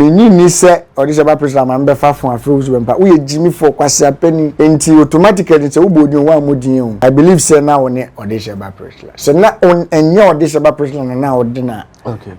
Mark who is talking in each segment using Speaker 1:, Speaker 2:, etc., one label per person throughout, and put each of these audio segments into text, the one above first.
Speaker 1: Minnye nni sɛ ɔde hyɛ ba Priscilla ma mebɛfa afon afrɛ wo Susan pa. Woyɛ gyimifoɔ, kwasea panin. Enti automatically sɛ wobɔ odin o, woammɔ din o. I believe sɛ na wone ɔde hyɛ ba Priscilla. Sɛ na ɛnyɛ ɔde hyɛ ba Priscilla na na wode no a,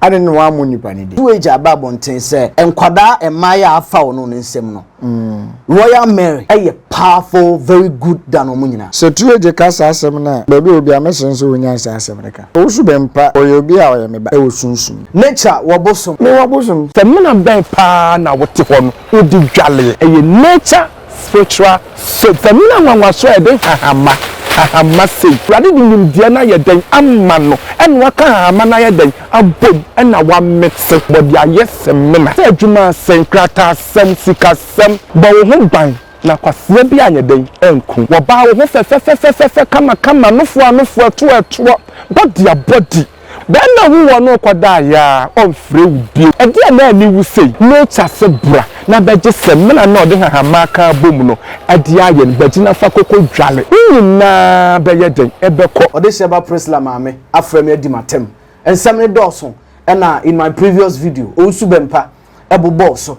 Speaker 1: adɛn nti na woammɔ nipa no din? Two Agya ba abɔnten sɛ nkwadaa mmaeɛ a afa wɔn no nsam no, Mm. Royal Mary ɛyɛ powerful very good than wɔn nyinaa. Sɛ tu egye ka saa asɛm no a, baabi a obi a mɛsrɛ nso wonyae saa asɛm no ka. Owusu Bempah, ɔyɛ obi a ɔyɛ me ba ɛwɔ sunsum mu. Nature wɔ bosom. Me wɔ bosom. Samina bɛn paa na wote hɔ no wode dwaleɛ? Ɛyɛ nature spiritual soap. Samina nwanwaso a ɛde nhahamma, hahamma sei. Awurade de nimdeɛ no ayɛ dɛn ama no, ɛna waka hahamma no ayɛ dɛn abom na wɔamete wɔ de ayɛ semina sɛ adwuma ase, nkrataasɛm, sikasɛm. Bɔ wo ho ban na kwasea bi anyɛ dɛn anku wo. Baa wo ho fɛfɛfɛfɛfɛfɛ kamakama, nofoa nofoa, toa toa, bɔdia bɔdi. Bɛɛma hu wɔ no kɔ da ayaa ɔnfrɛ wo bio. Ɛdeɛn na ani wu sei? Mate ase bra na bɛgye semina no a ɔde hahamaa ka abom no de ayɛ no. Bɛgye na fa koko dwale. Ne nyinaa bɛyɛ dɛn? Ɛbɛkɔ. Ɔde hyɛ ba Prisla maame. afrɛ me adi m'atam. Nsɛm no dɔɔso ɛna in my previous video, Owusu Bɛmpa bobɔɔ so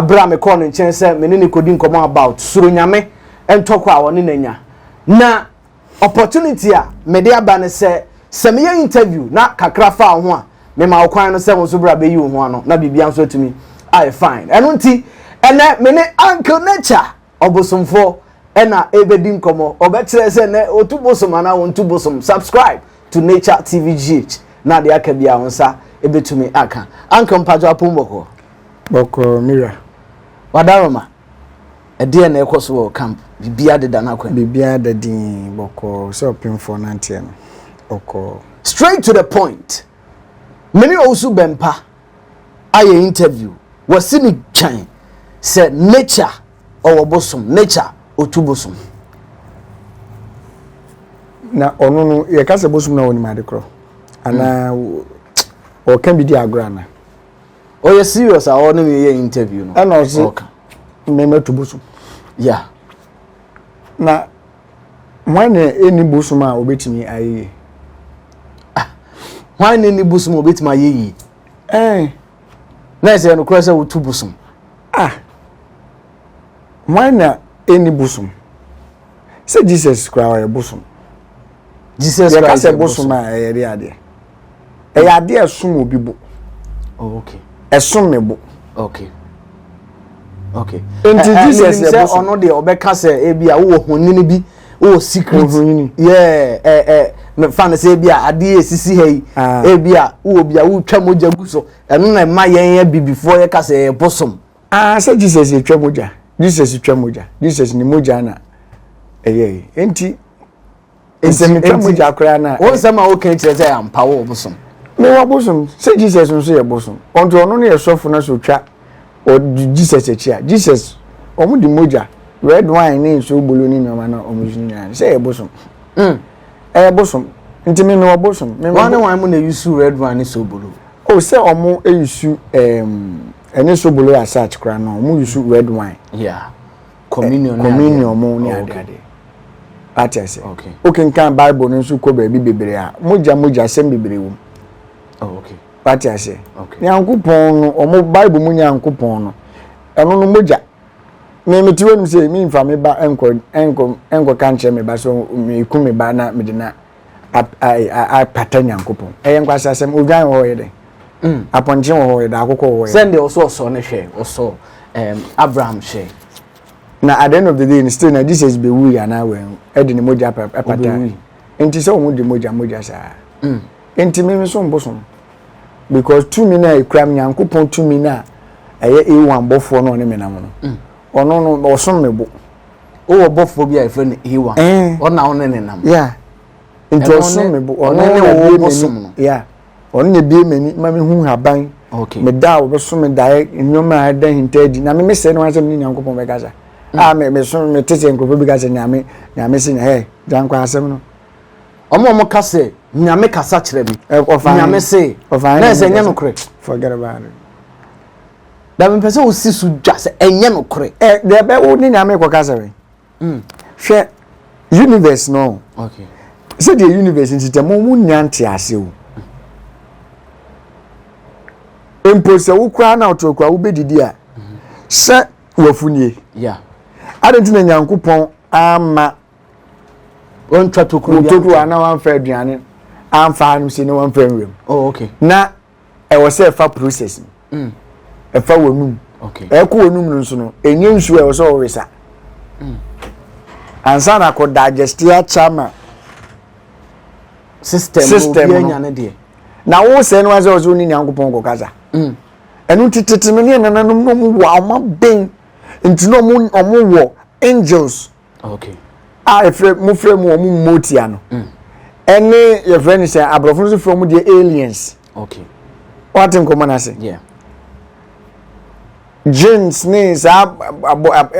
Speaker 1: bere a mekɔɔ ne nkyɛn sɛ me ne no kodi nkɔmmɔ about Suro Nyame ntɔkwa a ɔne no anya. Na opportunity a mede aba ne sɛ sɛ meyɛ interview na kakra fa wo ho a, mema wo kwan no sɛ wo nso bra bɛyi wo ho ano na biribiara nso atumi ayɛ fine. Ɛno nti, ɛnnɛ me ne Uncle Nature. ɔbosomfo ɛna ɛbɛdi nkɔmɔ ɔbɛkyerɛ sɛ nɛ ɔtu bosom anaa wɔntu bosom subscribe to nature tv gh na adeɛ aka bi a wɔn nsa ɛbɛtumi aka anka mpatsɔ apom bɔkɔɔ bɔkɔɔ mira wadaroma ɛdeɛ na ɛkɔ so wɔ camp biribi adeda no akwan biribi adadin bɔkɔɔ sɛ ɔpemfoɔ nanteɛ no ɔkɔɔ straight to the point mene ɔwusu bɛmpa ayɛ interview wɔsi ne twɛn sɛ nature ɔwɔ bosom nature otu bosom. na ɔno no yɛka sɛ bosom na wɔnim ade korɔ anaa hmm. ɔka bi di agorɔ ana ɔyɛ serious a ɔne me yɛ interview no ɛna ɔse mmɛma tu bosom ya na Hwan na ɛnni bosom a ɔbɛtumi ayɛ yie? Ah, hwan na ɛnni bosom a ɔbɛtumi ayɛ yie? Ɛn. Na ɛsɛ yɛ nokorɛ sɛ wotu bosom. Ah, hwan na ɛnni bosom? Sɛ Jesus koraa ɔyɛ bosom. Jesus Christ yɛ bosom a ɛyɛ de adeɛ. ɛyɛ adeɛ a ɛsom obi bo oh, okay. ɛsom me bo okay. okay. nti jesus sɛ ɔno deɛ ɔbɛka sɛ ebi a wowɔ honyini bi wowɔ secret yɛ mefa no sɛ ebi a adeɛ esisi ha yi ah. ebi a wowɔ bi a wotwa mogya gu so ɛno na ɛma yɛn yɛ bibifoɔ yɛ ka sɛ ɛyɛ bosom. aa ah, sɛ jesus yɛ twa mogya jesus twa mogya jesus ni mogya na ɛyɛ yi nti. nsɛmtwa mu gya koraa na. wɔn nsɛm a wɔka kyerɛ sɛ ampa wɔ bosom. mewɔ bosom sɛ jesus nso yɛ bosom ɔnti ɔno no yɛ sɔfo no so twa ɔdi jesus akyi a jesus wɔn de mogya red wine ne nsuo bolo ne nneɛma na wɔn yusu nyinaa no sɛ yɛ bosom mm. ɛyɛ bosom nti me mewɔ bosom. wɔn ne wɔn mu na yusu red wine ne so bolo. o sɛ wɔn yusu ɛm ɛne so bolo asach koraa no wɔn yusu red wine. Yeah. communion ne communion mu ne ade ade ate ase wokenkan bible no nso kɔ baabi bebree a mogya mogya asɛm bebree wom wate ase nyankopɔn no ɔmo bible mu nyankopɔn no ɛno no mogya me mete hɔ nim sɛ memfa me ba nkɔ nkɔ nkɔ ka nkyerɛ me ba so meku me ba na mede na apata Nyankopɔn. Ɛyɛ nkwaseasɛm. Odwan wɔ hɔ yɛ dɛn? Mm. Apɔnkye wɔ hɔ yɛ dɛn? Akokɔ wɔ hɔ yɛ dɛn? Sɛnde ɔsɔ ɔsɔ no hwɛ, ɔsɔ um, Abraham hwɛ. Na at the end of the day, no still na Jesus be wui anaa wɔn ɛde ne mogya pata. Nti sɛ wɔn de mogya mogya saa. Mm. Nti mi nso mbosom. Because tumi na ekura Nyankopɔn tumi na ɛyɛ ewan bɔfoɔ na ɔne menam no. Mm. Ɔno no ɔsom me bo. wowɔ bɔfoɔ bi a yɛfrɛ no hewa ɔna wo ne ne nam nti ɔso me bo ɔno na bie m'ani ya ɔno na bie m'ani ma me hu haban me da a wɔbɛso me daeɛ nneɛma a ɛda hinta adi na me me sɛ ne wɔn asɛm ne nyankopɔn bɛkasa a me me so me te sɛ nkurɔfoɔ bi ka sɛ nyame nyame se nyɛ gyankɔ asɛm no wɔn a wɔka sɛ nyame kasa kyerɛ me nyame se na ɛsɛ nyɛ nokorɛ forget about it na mepɛ sɛ wosi so dwa sɛ ɛnyɛ nokorɛ ɛ deɛ bɛ wo ne nyame kɔka sɛ wɛn mm. hwɛ universe no okay. sɛdeɛ universe nti tɛ mo monya nte ase o mpo sɛ wo koraa na ɔtorɔ koraa wobɛdidi a sɛ wafunie yeah. ade nti na nyankopɔn ama wɔntwa tokuro anaa wɔamfa aduane amfa anom sɛ ne wɔmfa nwuram oh, na ɛwɔ sɛ ɛfa process mu mm. ɛfa mm. wɔnum ɛkɔ wɔnum no nso no ɛnyɛ nsuo ɛwɔ sɛ ɔwesa mm. ansa na akɔ digeste akyɛ ma system system no na wo sɛ no asɛ ɔsɛ ɔne nyankopɔn kɔ kasa mm. ɛno nti tete no ne ɛnananom no mu wɔ ɔma ben nti na ɔmo wɔ angels a ɛfrɛ mu frɛ mu wɔn mmotia no mm. ɛne yɛfrɛ no sɛ aborɔfo no so frɛ mu deɛ aliens wate nkɔmmɔ no ase jeans ne saa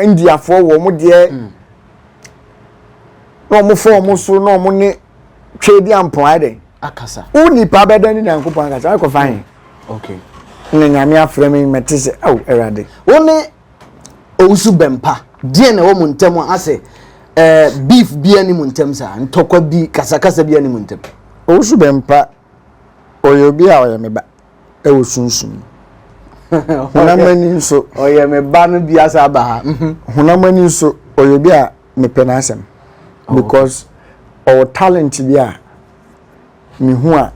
Speaker 1: indiafoɔ wɔ mo deɛ mm. na wɔn fɔ wɔn so na wɔn ne twɛ di ampɔn ayɛ dɛ akasa wo nipa bɛdɛ ne nyankopɔn akasa akɔ fa he ne nyame afrɛ me mɛte sɛ ao awurade wo ne owusu bɛmpa deɛ na ɛwɔ mo ntɛm asɛ ɛɛ beef bi ɛni mo ntɛm saa ntɔkwa bi kasakasa bi ɛni mo ntɛm. owusu bɛmpa ɔyɛ obi a ɔyɛ me ba ɛwɔ sunsun honam ani nso ɔyɛ me ba no bi asa aba ha mhm. honam ani nso ɔyɛ obi a mepɛ n'asɛm oh, because ɔwɔ talent bi a mehu a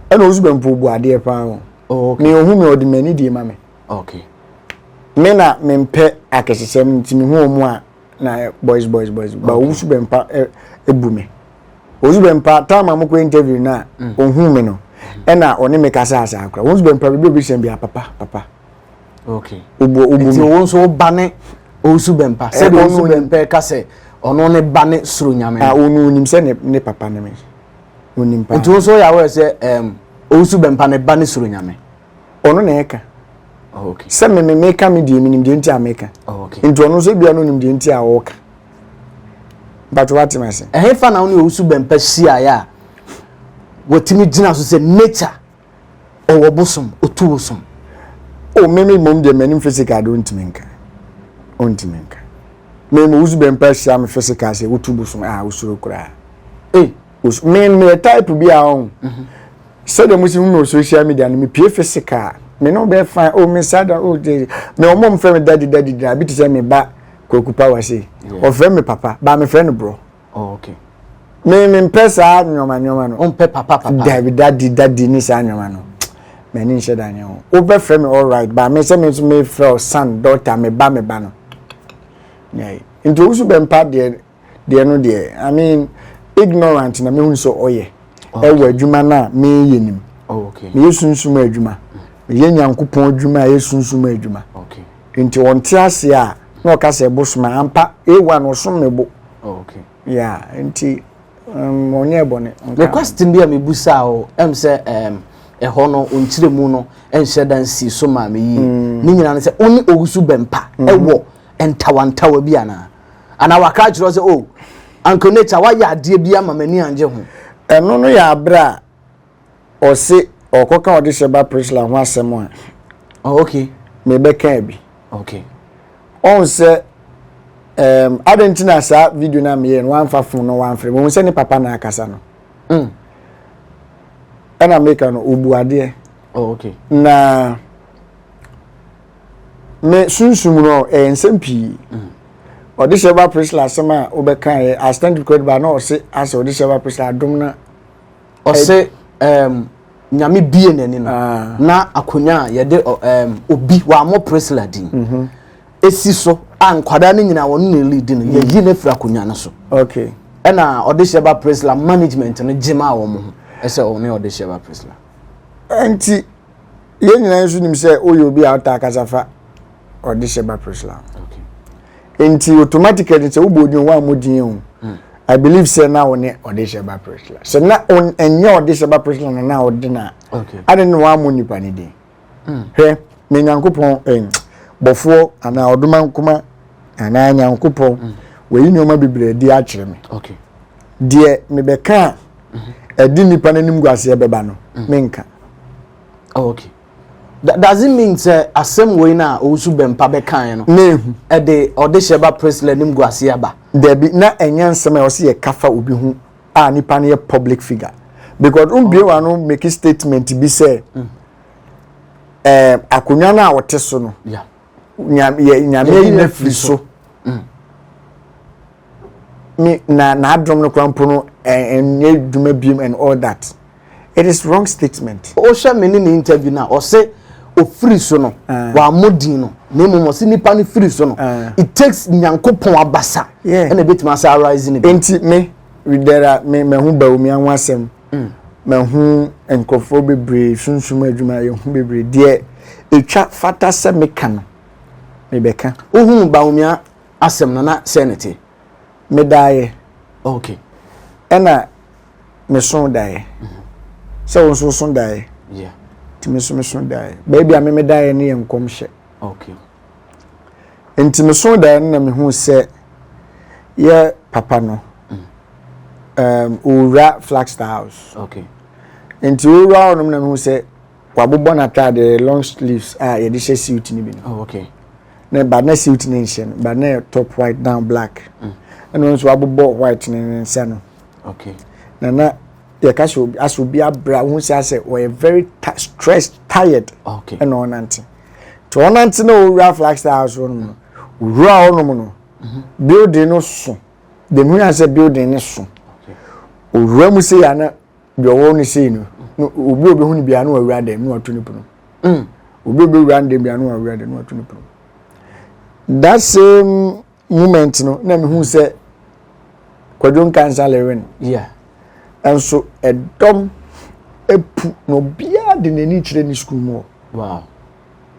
Speaker 1: ɛna owusu bɛmpa obu adeɛ paa o oh, ne ohun mi ɔde m'ani die ma me. Ok me na me mpɛ akɛsesɛm nti me ho ɔmo a na boys boys boys ba owu so bɛmpa ebu me owu so bɛmpa time a mo kɔ interview na ohun me no ɛna ɔne me kasa asa akora wɔn so bɛmpa bibi obi sɛn bi a papa papa ok obu obu mi nti wɔn so ba ne owu so bɛmpa sɛdeɛ owu so bɛmpa ka sɛ ɔno ne ba ne soro nyame a ɔno onim sɛ ne ne papa ne me onim pa nti wɔn so yɛ awɔrɛ sɛ ɛɛm owu so bɛmpa ne ba ne soro nyame. ɔno na ɛka sɛ me meka me deɛ menim deɛ nti a meka nti ɔno nso ebia no nim deɛ nti a ɔreka but wate ma se ɛhefa na wo ne ɔwusu bɛmpa hyiaeɛ a watumi gyina so sɛ nature ɔwɔ bosom ɔtu bosom o me me mmom deɛ m'anim physical de ɔntumi nka ɔntumi nka me ma ɔwusu bɛmpa hyia me physical sɛ wotu bosom a wosuro koraa ei me meyɛ type bi a ɔn mhm. sɛdeɛ mo si hu me wɔ social media no mepie physical me ne wobɛyɛ fine o oh, me nsa da o oh, de me ɔmɔ mfrɛ me dadi dadi dina bi te sɛ me ba kwaku power sei ɔfrɛ me papa baa mefrɛ no borɔ oh, me mempɛ saa nneɛma nneɛma no ɔmpɛ papa papa dabi dadi dadi ne saa nneɛma no m'ani nhyɛ da nyɛ ho wobɛfrɛ me all right baa me sɛ me nso mefrɛ o son daughter me ba me ba no nti owusu bɛmpa deɛ deɛ no deɛ i mean ignorant na mehu sɛ ɔyɛ ɛwɔ adwuma no a meyɛ nim meyɛ sunsum adwuma meyɛ nyankopɔn adwuma a ɛyɛ sunsum adwuma nti ɔnte aseɛ a na ɔka sɛ ɛbo soma ampa ewa na ɔsom me bo ya nti um, ɔnyɛ bɔne ne question bi a mebusaa o ɛm sɛ um, ɛhɔ no ɔnkyerɛ mu no ɛnhyɛ da nsi so maa me yie mm. ne nyinaa no sɛ wo ne ɔwusu bɛmpa mm-hmm. ɛwɔ ntawantawa bi anaa anaa waka akyerɛ wo sɛ o oh, uncle nature wayɛ adeɛ bi ama m'ani angye ho ɛno no yɛ aberɛ a ɔse ɔkɔka ɔde hyɛ ba prisla ho asɛm a oh, okay. mebɛkaa bi okay. ɔhu sɛ um, adɛn nti na saa video no a meyɛ no wamfa fon no wamfrɛ mu hu sɛ ne papa na akasa no mm. ɛna meka no ɔbu adeɛ oh, okay. na me sunsum no ɛyɛ nsɛm pii ɔdehyɛ ba prisla asɛm a wobɛka yɛ astant kura ba na ɔse asɛ ɔdehyɛ ba prisla adom na ɔse um, nyame bie n'ani no ah. na akonnwa a yɛde um, obi wɔamɔ prisla din mhm. esi so a nkwadaa no nyinaa wɔn na ɛli di no mm. yɛyi no afiri akonnwa no so okay ɛna ɔdehyɛ ba prisla management no gyema wɔn ho ɛsɛ ɔne ɔdehyɛ ba prisla nti yɛn nyinaa nso nim sɛ woyɛ obi a ɔtaa kasa fa ɔdehyɛ ba proslam nti automatically sɛ wobɔ odin wo a modin o hmm. i believe sɛ na wo ne ɔdehyɛ ba proslam sɛ na ɛnyɛ ɔdehyɛ ba proslam na na wode no a ade ne woammɔ nnipa no din hmm. hwɛ me nyankopɔn eh, bɔfoɔ anaa ɔdoma nkoma anaa nyankopɔn hmm. wɔyi nneɛma bebree adi akyerɛ me deɛ mebɛka a ɛde eh, nipa n'anim guaseɛ bɛba no mm. menka oh, okay that doesn't mean sɛ asɛm wei na owusu bɛmpa bɛkan no mehu ɛde ɔde hyɛ ba presley anim guaseɛ aba dabi na ɛnyɛ nsɛm a ɔsɛ yɛ kafa obi ho a nipa no yɛ public figure because n bie wa no make statement bi sɛ ɛɛ mm. eh, akonnwa no a ɔte so no. Yeah. nyame ayi no afiri so mm. me na n'adom no kora mpo no ɛnyɛ adwuma biom and all that it is wrong statement. o hyɛ mi ni ni interview na ɔsɛ ofiri so no eh. wa mo din no na emu mo si nipa ni firi so no eh. it takes nyanko pɔn abasa ɛna ebi tuma sa arise ni bi. nti mi ridera mi mɛ ho bawo mi anwa asɛm. Mm, mahu nkurɔfoɔ bebree, sunsum adwumayɛ ho bebree. Deɛ ɛtwa fata sɛ meka no, mebɛka. Wohuu Bawumia asɛm no, na sɛ ne te? Medaeɛ. Okay. Ɛna meso daeɛ. Mm-hmm. Sɛ wo nso woso daeɛ. Yeah. Nti me nso meso daeɛ. Baabi a me medaeɛ no yɛ nkɔmhyɛ. Okay. Nti mesoo daeɛ no na mehuu sɛ yɛ papa no um, ɔwura Flagstaff House. Okay. Nti ɔwura hɔ nom na mehu sɛ wabobɔ n'ataade long sleeves a yɛde hyɛ suit no bi no. Oh, okay. Na ba na suit no nhyɛ no ba na top white down black. Mm. Ɛna ɔno nso wabobɔ white ne ne nsa no. Okay. Na na yɛka sɛ asɛ obi abra wohu sɛ asɛ ɔyɛ very stressed tired. Okay. Ɛna ɔnante. nti ɔnante na ɔwura flagstaff house hɔ nom no ɔwura hɔ nom no building no so dɛm hu yɛn sɛ building no so ɔwura mu sei ana deɛ ɔwɔ no sei no obi a ɔbɛhu no biara na ɔwura dɛm na ɔto no pono mm. obi a ɔbɛwura no dɛm biara na ɔwura dɛm na ɔto no pono that same moment no na mehu sɛ kwadwo nkansa leren yeah. nso ɛdɔm apu na obiara de n'ani kyerɛ ne sukuu mu hɔ wow.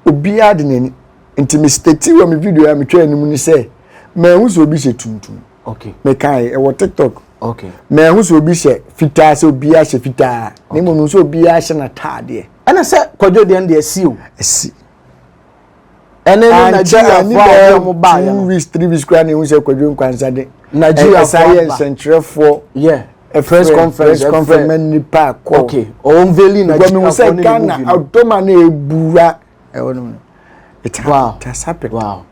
Speaker 1: obiara de n'ani nti me stati wɔ me video a metwa anim ne sɛ maahu sɛ obi hyɛ tuntum okay. mekae ɛwɔ tiktok okay. maahu sɛ obi hyɛ fitaa sɛ obiara hyɛ fitaa okay. na mmom sɛ obiara hyɛ n'ataadeɛ ɛna sɛ kwadwo deɛ no deɛ asi o asi ɛne ne nigeriafoɔ a ɔde ɔmo baayɛ no two weeks three weeks koraa na ehu sɛ kwadwo nkwansa de nigeriafoɔ ɛsan yɛ nsɛnkyerɛfoɔ yɛ press conference press conference mɛ nipa akɔ okay ɔwɔn veli nigeriafoɔ ne ne movie no ghana ɔdɔma na ebura ɛwɔ no no it happened it has happened wow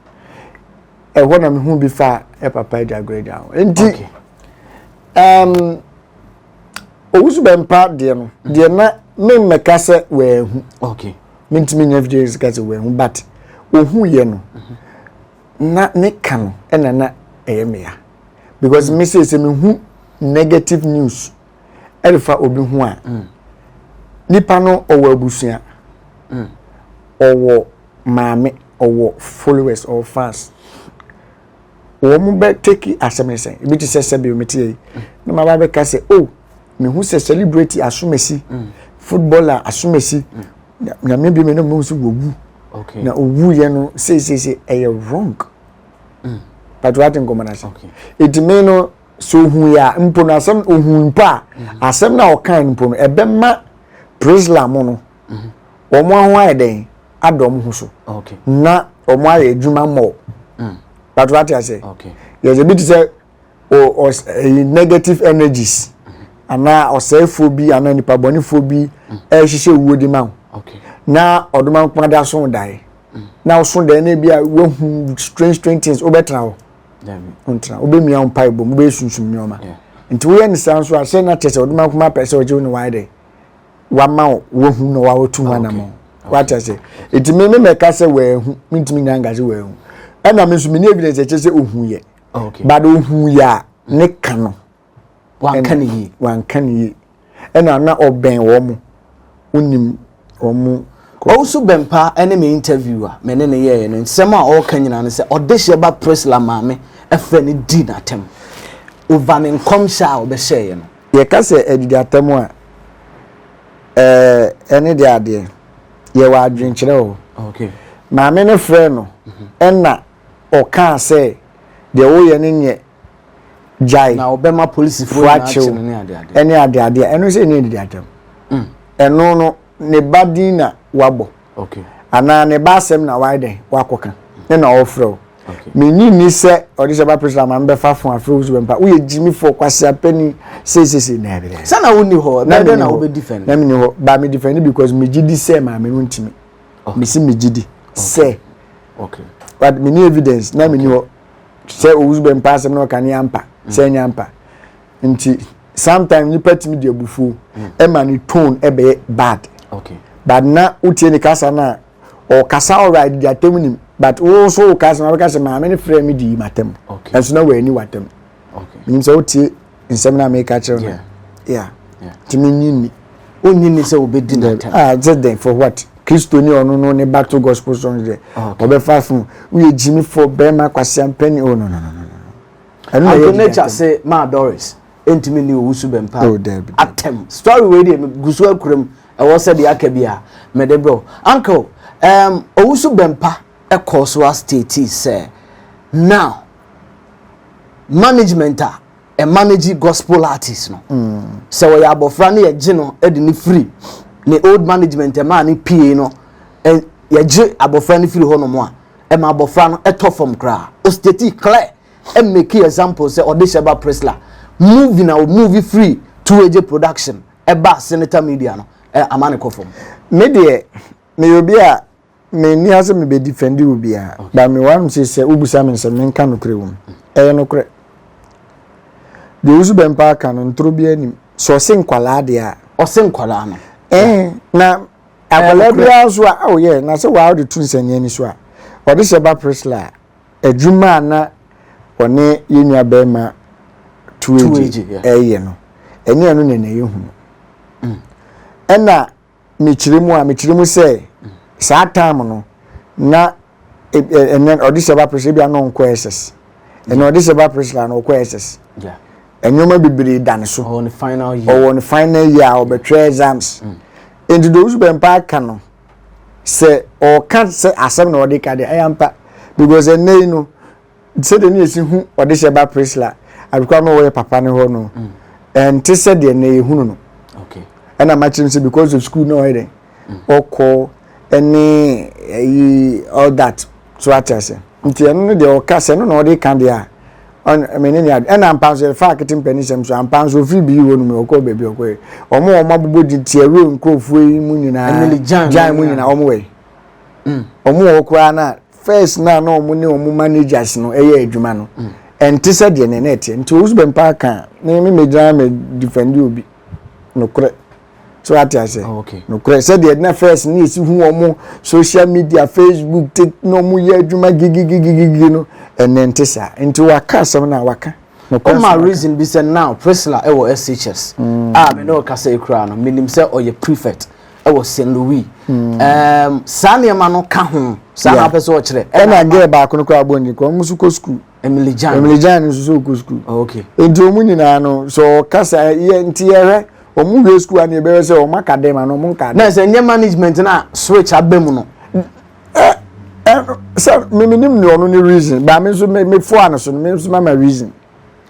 Speaker 1: ɛwɔ na mehu bi fa ɛ papa agya agorɔ agya ho nti ɛɛm owusu bɛmpa deɛ no deɛ na mmemmɛka sɛ wɔahu okay. mentumi nyɛ video sika sɛ wɔahu but ɔhuiɛ no na ne ka no ɛna na ɛyɛ meya because me sei sɛ mehu negative news ɛrefa obi ho a mm. nipa no ɔwɔ abusua mm. ɔwɔ maame ɔwɔ followers ɔwɔ fans wɔn bɛ take asɛm ne sɛ ebi te sɛ sɛbi omi te yɛ yi mm. na ma ba bɛ ka sɛ oh mehu sɛ celebrity asomasi mm. footballer asomasi mm. nyame bi me na mehu sɛ wɔwu okay. na ɔwuiɛ no seisese ɛyɛ wrong mm. but wate nkɔmmɔ no ase okay. ɛti me no sɛ ohun yɛ a mpo no asɛm ohun mpo a mm-hmm. asɛm no a ɔkan mpo no ɛbɛma prisla mu no mm-hmm. wɔn aho ayɛ dɛn ada wɔn ho so na wɔn ayɛ adwuma mmɔ mm. but wate ase yɛsɛ bi te sɛ eh, negative energies anaa ɔsɛefoɔ bi anaa nipa bɔnefoɔ bi mm. ɛrehyehyɛ wuo de ma wo na ɔdoma nkoma de aso dae mm. na ɔso dae na bi a woahu strange strange things wobɛtena hɔ ntena wobɛmia wo mpa ɛbom wobɛsunsum nneɔma nti woyɛ ne saa nso ahyɛ no akyɛ sɛ ɔdoma nkoma pɛ sɛ ɔgye wo ne waayɛ dɛ wama wo woahu na wawotu ho anamɔ wata sɛ ɛtumi me mɛka sɛ wɔahu mentumi nya nka sɛ wɔahu ɛna me nso mene evidence ɛkyɛ sɛ ɔhu yɛ okay. but ohun yɛ a ne ka no wanka ne yie wanka ne yie ɛna na ɔbɛn wɔn mo onim wɔn mo. ɔwusu bɛmpa ɛne me interview a me ne ne yɛɛ no nsɛm a ɔreka nyinaa no sɛ ɔde hyɛ ba presla maame ɛfɛ ne di n'atɛm ova ne nkɔmhyɛ a ɔbɛhyɛɛ no. yɛka sɛ adidi atɛm a ɛɛ ɛne de adeɛ yɛwɔ adwenkyerɛ o maame no frɛ no mhm. ɛna. Ɔkaa sɛ, Deɛ woreyɛ no nyɛ, gyae, Na ɔbɛma polisifoɔ fo nyinaa akye akye wo no ne adeadeɛ. ne adeadeɛ a. Ɛno sɛ ɛnni anidatam. Ɛno no, ne ba din na wabɔ. Okay. Anaa ne ba asɛm na wayɛ dɛn? Wakɔka. Ne na ɔrefrɛ wo. Okay. Mennye nni sɛ ɔde sɛ ba Priscilla ma mebɛfa fon afrɛ wo so bɛmpa. Woyɛ gyimifo, ɔkwaseapani, sei sei sei. Daabi, daabi. Sɛ na wonni hɔ, Na ɛbɛyɛ dɛn menni na hɔ. wobɛdifɛnde? Na menni hɔ. But medifɛnde because megye di sɛ maame no ntumi. mesi megye di sɛ but meni evidence na meni hɔ sɛ owusu bɛ mpa asɛm na ɔka ne ampa mm. sɛ ɛnyɛ ampa nti sometimes nipa tumi di abufuo mm. ɛma ne tone ɛbɛyɛ bad but na wotie ne kasa na ɔkasa alright di atɛm nim but wo nso wo kasa na ɔbɛka sɛ maame ne frɛ mi di yi ma tɛm ɛnso na wɔ ani wa tɛm nim sɛ wotie. nsɛm na meka kyerɛ no yeah nti menyi ni ɔnyi ni sɛ wobɛdi no ah sɛ dɛn for what kristo ni ɔno no ne battle gospel song deɛ ɔbɛfa fo woyɛ gyimi fo bɛrima kwasea mpɛni oh no no no no ɛno na yɛ nature se maa doris ɛntumi ni owu so bɛmpa oh, atɛm story wei deɛ gu so akuram ɛwɔ sɛ deɛ aka bi a mede brɛ uncle um, owu so bɛmpa ɛkɔɔ so astate sɛ now management a ɛmanage gospel artist no sɛ ɔyɛ abɔfra no yɛgye no de no firi ne old management ɛmaa no pie no yɛgye abɔfra no firi hɔ nom a ɛma abɔfra no ɛtɔ fam koraa osteti clear ɛmɛki example sɛ ɔde Sheba Presla movie na o movie free two agye production ɛba senator media no ama ne kɔ fam me deɛ meyɛ obi a Me nni ha sɛ me bɛ defend wo biara, but me wɔ se sɛ wobusa me nsɛm menka nokorɛ wɔ mu. Ɛyɛ nokorɛ. Deɛ Owusu Bɛmpa aka no ntoro biara nim. Sɛ ɔse nkwalaa deɛ a. Ɔse nkwalaa no. Ɛɛ eh, na akwalaa biara nso a oh yeah, na sɛ waa ɔde to nsania ni so a ɔde hyɛ ba Priscilla a adwuma a na ɔne yɛn nua bɛrima tuo agye ɛyɛ no ɛnyɛ ɛno na ɛna yɛ hunu. Mm. Ɛna mekyerɛ mu a mekyerɛ mu sɛ saa time no na ɛnɛ ɔde sɛ ba presla bi a na ɔnkɔ ss ɛnɛ ɔde sɛ ba presla na ɔkɔ ss nneɛma bebree da ne so ɔwɔ ne final year ɔwɔ ne final year a ɔbɛtwerɛ exams mm. nti deɛ ɔsu bɛmpa aka no sɛ ɔka sɛ asɛm na ɔde ka deɛ ɛyɛ mpa because ɛnɛ yi no sɛdeɛ ne yɛsi hu ɔdehyɛ ba Priscilla abikora no wɔyɛ papa no hɔ no ɛnte sɛ deɛ na yɛhunu no ɛna makyerɛ m sɛ because of school na ɔyɛ dɛn ɔkɔ ɛne ɛyi all that so ate ase nti ɛno no deɛ ɔka sɛ no na ɔde ka deɛ a mene ne ade ɛna mpa nso yɛfa akete mpani sɛm so ampa nso ɔfiri bii hɔ nom ɔkɔ baabi ɔkɔɛ ɔmo ɔmo abobɔ gye tiawuro nkurɔfoɔ yi mu nyinaa gyan mu nyinaa ɔmo wɔ yi ɔmo wɔ koraa no a first na na wɔn ne wɔn managers no yɛ adwuma no ɛnte sɛ deɛ ne na ɛteɛ nti owusu bɛn paa kan ne me megyina me defend obi nokorɛ so ate ase oh, nokorɛ sɛdeɛ na first ne yɛsi hu wɔn social media facebook tit na wɔn yɛ adwuma gigigigigigi no ɛnɛ nte saa nti waka asɛm na waka. ɔma reason bi sɛ now prisla ɛwɔ shs mm. a ah, me ne ɔkasa ekura no menim sɛ ɔyɛ prefect ɛwɔ st louis hmm. um, saa nneɛma no ka ho saa na apɛ sɛ ɔkyerɛ ɛna gɛɛ baako no koraa bɔ nyi kɔ ɔmo so kɔ sukuu emily jan emily jan nso so kɔ sukuu oh, okay nti ɔmo nyinaa no sɛ ɔkasa yɛ nti yɛhwɛ ɔmo wie sukuu a na yɛbɛyɛ sɛ ɔmo aka dɛm ana ɔmo nka dɛm na sɛ nyɛ management na switch abɛ mu no sɛ mímí nim ni ɔno ni reason baami nso mi fo ano so no mi nso ma ma reason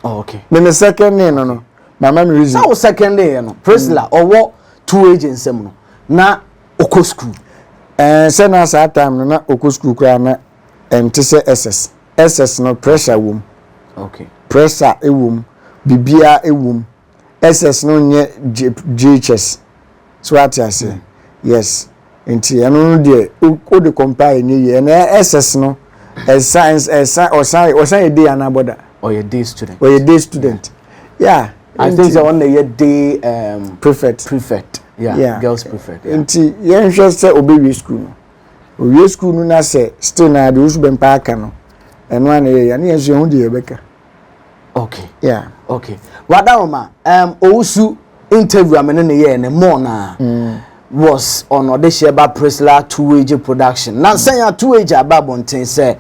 Speaker 1: oh, okay mímí second name no no. mama mi reason. sáwọ second yẹ no Priscilla ọwọ mm. two age nsẹm no na ọkọ school. ẹẹ sẹ na saa time no na ọkọ school koraa na ẹnti sẹ ss ss no pressure wom okay. pressure ewom bibia ewom ss no nyɛ jhs so ate ase mm. yes. nti ɛno no deɛ o de compare ne yie ɛna SS no ɛsan ɛsan ɔsan ɔsan yɛ day anaa bɔda. ɔyɛ day student. ɔyɛ day student yeah. I think sɛ ɔno na ɛyɛ day um, prefect prefect yeah, yeah. girls prefect. Yeah. nti yɛnhwɛ sɛ ɔbɛwie school no ɔwie school no na sɛ still na adeɛ osu bɛmpa aka no ɛno a na yɛyɛ ne yɛn nso yɛn ho deɛ yɛbɛka. okay yeah okay wada wɔn ma um, owusu interview a me ne no yɛɛ ne mɔɔ naa mm. was on ɔdehyɛ ba prisla two age production na nsɛn a two age aba abɔnten sɛ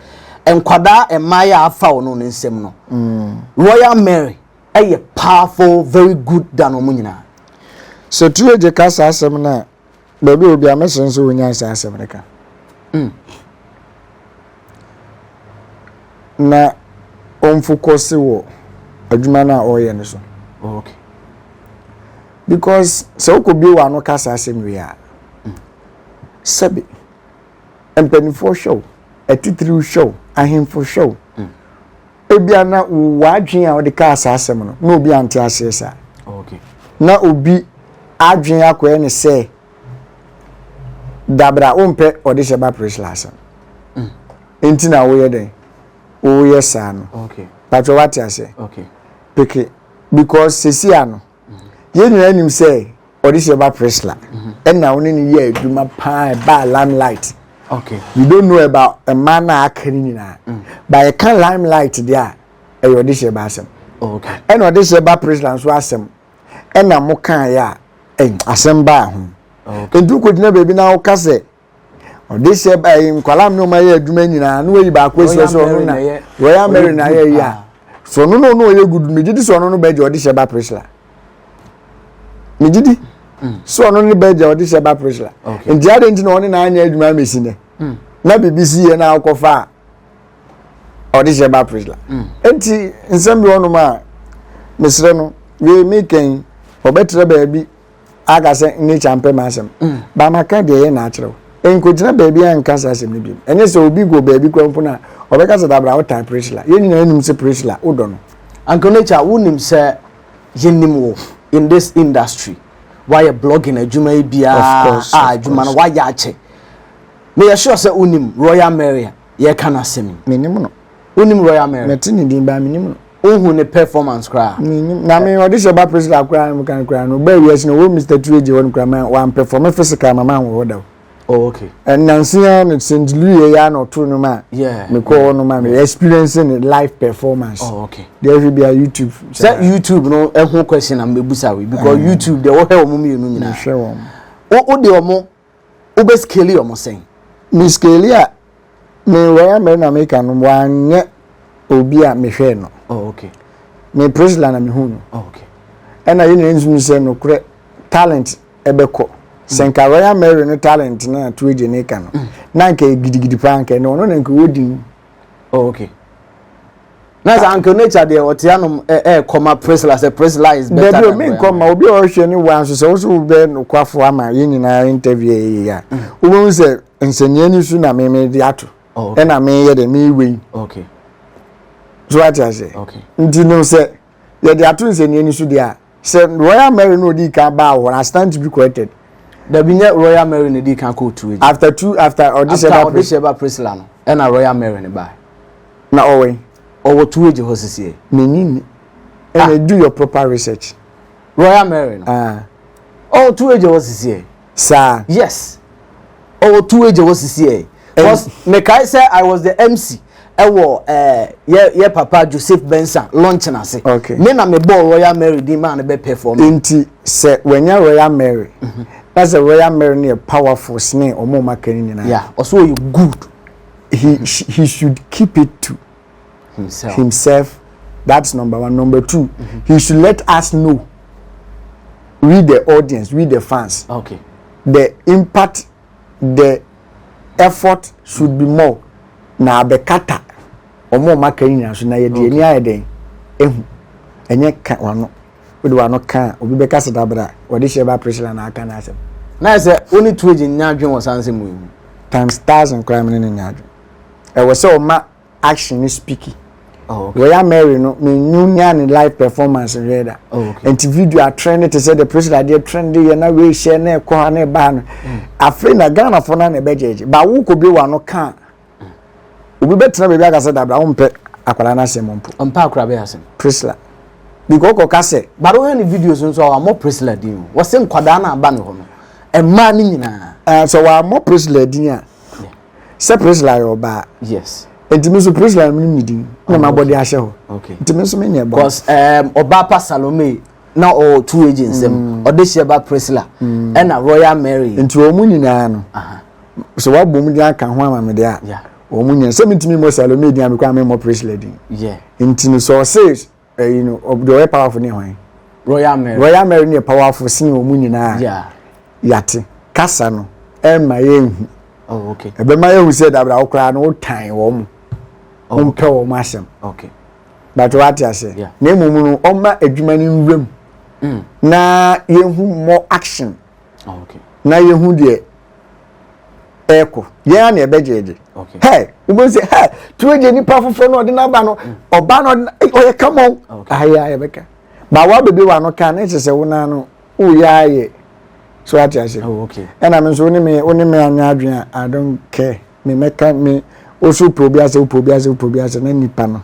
Speaker 1: nkwadaa mmaa yɛ afa wɔn no nsɛm no mm. royal mary ɛyɛ powerful very good dan wɔn nyinaa. sɛ two age kasa asɛm na Baabi a obi a mɛsrɛ nso ɔnyae saa asɛm no ka. Mm. Na ɔmfokɔse wɔ adwuma no a ɔreyɛ no so. Oh, okay. Because sɛ wokɔbie wɔ ano ka saa asɛm wei a, mm. sɛbe mpanimfoɔ hwɛ wo, atitiriw hwɛ wo, ahemfo hwɛ wo. Mm. ebia na w'adwene a wɔde kaa saa asɛm no na obi ante aseɛ saa na obi adwene akɔɛ ne sɛ dabra wompɛ ɔde hyɛ ba prisla asɛm mm. nti na woyɛ dɛn woyɛ saa no patwɛ wate aseɛ peke because sesia no yɛn nyinaa nim sɛ ɔde hyɛ ba Priscilla ɛna ɔne ne yɛ adwuma paa ɛbaa limelight okay you don't know about mmaa no a aka no nyinaa mm. ba yɛka limelight deɛ a ɛyɛ ɔde hyɛ ba asɛm ɛna ɔde hyɛ ba Priscilla nso asɛm ɛna mo kaa yɛ a asɛm baa ho nti wokɔgyina baabi na woka sɛ ɔde sɛ ɛyi eh, nkwadaa mi na ɔmo ayɛ adwuma nyinaa na wɔyi baako esi ɔsɛ ɔno na royal mary na ayɛ yi a so ɔno na ɔno ɔyɛ gudu mi gyi di sɛ ɔno no bɛgye ɔde hyɛ ba prisla mi gyi di mm. sɛ ɔno ne bɛgye ɔde hyɛ ba prisla nti adi nti na ɔne na anyɛ adwuma ama esi nɛ mm. na bibi si yɛ na akɔ fa ɔde hyɛ ba prisla mm. nti nsɛm bi ɔnom a mesrɛ no wei mi kɛn ɔbɛtira baabi. aka sɛ nature mpɛ m'asɛm mm. ba maka deɛ ɛyɛ na akyerɛ wo nkɔgyina baabi a nka saa asɛm no biom ɛnyɛ sɛ obi go baabi kora mpo no a ɔbɛka sɛ dabra wotan prisla yɛn nyinaa nim sɛ prisla wodɔ no anka nature wonim sɛ yɛnim wo in this industry wayɛ blogging adwuma yi biara a adwuma no wayɛ akyɛ meyɛ sure sɛ wonim royal maria yɛka no asɛm yi menim no Wonim Royal Mary? Mete ne din baa menim no. Wohu ne performance koraa? Menim. Na me ɔde hyɛ ba Priscilla koraa no kan koraa no ɔbaa wiase no wɔ Mr. Tureji hɔ no koraa ma wampɛfɔme physical ma manwɔ hɔ da o. Oh, okay. Nansi ara no St. Louis yɛ ya na ɔtoo no ma mekɔ hɔ no ma me experience ne live performance. Oh, okay. Deɛ ɛhwɛ bi a YouTube. Sɛ YouTube no ɛho question na mbɛbusa wei because eh. YouTube deɛ wɔhwɛ wɔn mmienu nyinaa. Mehwɛ wɔn. Wode wɔn Wobɛ scale ɔmo sɛn? Me scale a me Royal Mary na meka no wanyɛ obi a mehwɛɛ no. Oh ok. Me Priscilla na mehuu no. Oh ok. Ɛna yɛn nyinaa nso nim sɛ nokorɛ talent ɛbɛkɔ. Sɛ mm. nka Royal Mary no talent na Tuweje ne ka no. Mm. Na nka gidigidi paa nka ɛne ɔno na nka ɔwɔ din. Oh ok. na sɛ anka nature deɛ ɔte anom ɛɛkɔ ma prisla sɛ prisla is better than obi nkɔ ma obi a ɔhwɛ ne wa nso sɛ woso wobɛ nokwafo ama yɛn nyinaa interview yɛ yɛ a mm. wobɛhu sɛ nsɛnniɛ ni so na meme de ato oh, ɛna meyɛ dɛ meyewɛ yi so ate aseɛ nti no sɛ yɛde ato nsɛnniɛ ni so deɛ a sɛ royal mary na odi kan baa hɔ na stand to be corrected. dabi nyɛ royal mary na edi kan kɔ otu edi. after two after ɔde hyɛ ba ɔde hyɛ ba priscilla no ɛna royal mary no baa. na ɔwɔ yi. ɔwɔ tu egye hɔ sisi yɛ. menyi ni ɛna ah. do your proper research. royal mary no. Ah. ɔwɔ tu egye hɔ sisi yɛ. saa. yes ɔwɔ two agya wɔ sisi ɛ cause mekae sɛ i was the mc ɛwɔ ɛɛ yɛ yɛ papa joseph bensa launch na ase okay. me na me bɔɔ royal mary din maa no bɛ perform. nti sɛ wanya royal mary mhm. na sɛ royal mary no yɛ powerful sene ɔmo ɔmo aka no nyinaa. yeah ɔsɛ ɔyɛ good. he he should keep it to. himself. himself. That's number one. Number two, mm-hmm. he should let us know. We the audience, we the fans. Okay. The impact, the effort should mm-hmm. be more. Na abekata. Omo maka nyina so na ye de ni aye den. Ehu. Enye ka wano. Wode wano ka obi beka se dabra. Wode hye ba pressure na aka na asem. Na se oni tueji nya adwen wo sanse mu. Times thousand crime ne nya adwen. ɛwɔ sɛ ɔma action no speaky oh, okay. royal mary no menwu nya ne live performance nhwɛ da oh, okay. nti video atrɛn ne te sɛ the president adeɛ trɛn de yɛ na wei hyɛ na ɛkɔ ha na ɛba ha no hmm. afei na ghanafoɔ no na ɛbɛgyɛgye ba wo kɔ bi wa no kaa obi bɛtena baabi aka sɛ dabra wompɛ akwadaa no asɛm mpo ɔmpɛ akwadaa bɛyɛ asɛm prisla because ɔkɔ ka sɛ baro hɛ ne videos nso a wɔn prisla din o wɔsɛ nkwadaa no aba ne hɔ no mmaa no nyinaa sɛ wɔn amɔ prisla din a sɛ prisla yɛ ɔbaa yes nti mi nso prisla mi mi din na ma bɔde ahyɛ hɔ nti mi nso mi nyɛ bɔ. cause um, ɔbaa pa salome na ɔwɔ two agents mu mm. ɔde hyɛ ba prisla mm. ɛna royal mary. nti wɔn mu nyinaa no sɛ wabɔ mu de aka ho ama mi de a wɔn mu nyinaa sɛ mi ntumi mɔ salome din a mi kɔ a mi mɔ prisla din nti no sɛ ɔsɛ. ɛyi no deɛ ɔyɛ powerful ne hwan royal mary royal mary ne yɛ powerful sin wɔn mu nyinaa yeah. yate kasa no ɛmma yɛnhu oh, okay. ɛbɛma yɛhu sɛ dabra wo koraa no wotan wɔn mu oh, wompɛ wɔn mu asɛm okay. but wate aseɛ yeah. na mmom no ɔma adwuma no nwuram mm. na yɛhu more action na yɛhu deɛ ɛkɔ yɛn ara na ɛbɛgyegye hɛ wobɛhu sɛ hɛ turo gye nipa foforɔ na ɔde no aba no ɔba no ɔyɛ kama o ayɛ a yɛbɛka ba wa bɛbi wa no ka ne kyɛ sɛ wo naa no woyɛ ayɛ so ate ase ɛna me nso wo ne me wo ne me anyɛ adwene a i don't care me mɛka me wo so wopɛ obi asɛ wopɛ obi asɛ wopɛ obi asɛ na nipa no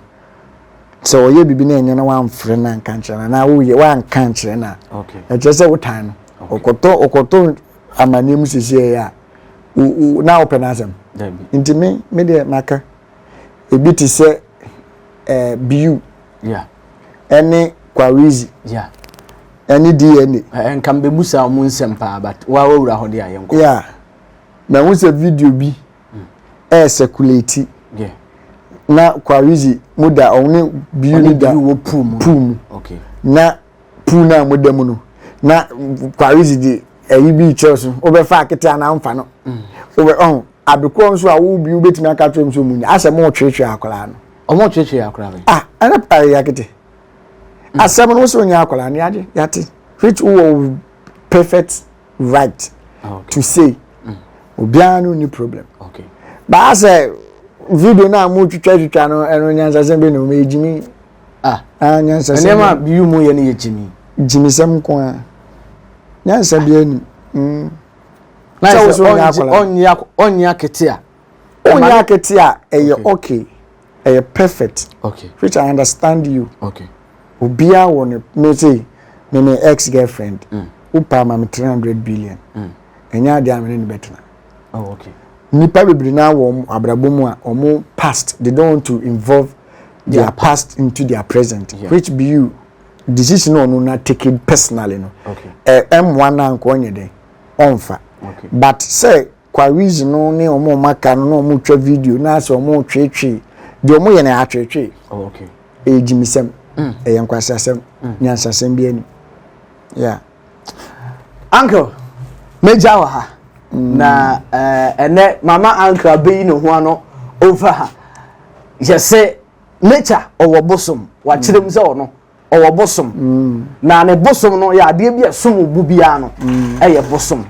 Speaker 1: sɛ ɔyɛ biribi na ɛnyɛ na wamfrɛ no anka nkyerɛ no anaa woyɛ wanka nkyerɛ no a ɛkyerɛ sɛ wotan no ɔkɔtɔ ɔkɔtɔ amanneɛ mu sisi ɛyɛ a na wopɛ no asɛm nti me me deɛ maka ebi te sɛ ɛɛ biu ɛne kwarizi ɛne dna. nka mbɛbusa ɔmo nsɛm paa but woa wawura hɔ de ayɛ nkɔ. mahu sɛ video bi ɛresɛkuleti na Kwaridzi mo da ɔno ne biu ne da puu mu na puu no a mo da mu no na Kwaridzi de ɛyi bi kyerɛ so wobɛfa akete anaa mfa no mm. wobɛ ɔn adekorɔ nso a wo biu bɛtumi aka kyerɛ mu sɛ ɔmu nya asɛ mo tweretwere akwaraa no ɔmo tweretwere akwaraa no ah ɛna ɛyɛ akete mm. asɛm no wosɛ ɔnya akwaraa no yɛade yɛate which wowɔ perfect right ah, to say mm. obiara no ni problem baa sɛ video no a mo twitwa twitwa no ɛno nyansasɛm bi na ɔmo yɛ gyimi ah. ah nyansasɛm nneɛma bi mu yɛ no yɛ gyimi gyimisɛm nko a nyansa bi anim mm. sɛ wosoro nyɛ akwadaa ɔnyɛ akete a ɔnyɛ akete a ɛyɛ okay. ɛyɛ perfect okay. which i understand you okay. obiara wɔ no me se me me ex girlfriend mm. wopaa ma me 300 billion mm. ɛnyɛ adeɛ a mene ne bɛtena oh, okay. nipa bebree na wɔ abrabɔ mu a wɔn past they don't want to involve their yeah. past into their present yeah. which be you decision na ɔno na take it personally no ɛmmoa na nka ɔnyɛ dɛ ɔnfa but sɛ Quarries no ne wɔn a wɔaka no na wɔretwa video na asɛ wɔretweetwee deɛ wɔyɛ no atweetwee oh, ɛyɛ gyimisɛm mm. ɛyɛ nkwasasɛm mm. nyansasɛm bi anim yeah. uncle mɛgya wɔ ha mm. na eh, ɛnɛ mama uncle abɛyi ne ho ano over ha yɛsɛ nature ɔwɔ bosom wakyerɛ mu sɛ ɔno ɔwɔ bosom na ne bosom no yɛ adeɛ bi a ɛsom bo biara no ɛyɛ bosom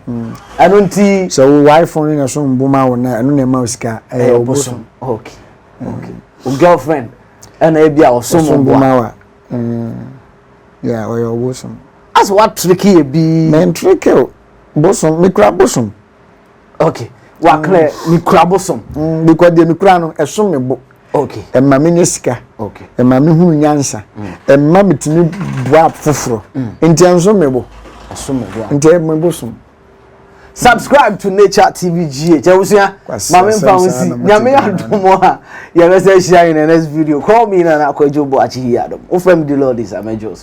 Speaker 1: ɛno nti. sɛ wo wifo no na ɛsom bo ma wo na ɛno na ɛma wo sika ɛyɛ bosom. okay okay o girlfriend ɛna ebi a ɔsom bo ma wa yɛ ɔyɛ ɔbosom. asɛ wa triki yɛ bii. mɛ ntriki o bosom mekura bosom. okay waklɛ mm. mekura bosom mm, because deɛ mekura no ɛsom me bo okay ɛma menya sika okay ɛma mehunu nyansa mm. ɛma metumi boa foforɔ nti ɛnsom me bo ɛsom me bo nti ɛma bosom subscribe to nature tv gh ɛwosua maame mpa ho si nyame adom a yɛbɛsɛ ahyia in the next video call me nana akwadwo bo akyehi adom wofam de lord is amedwos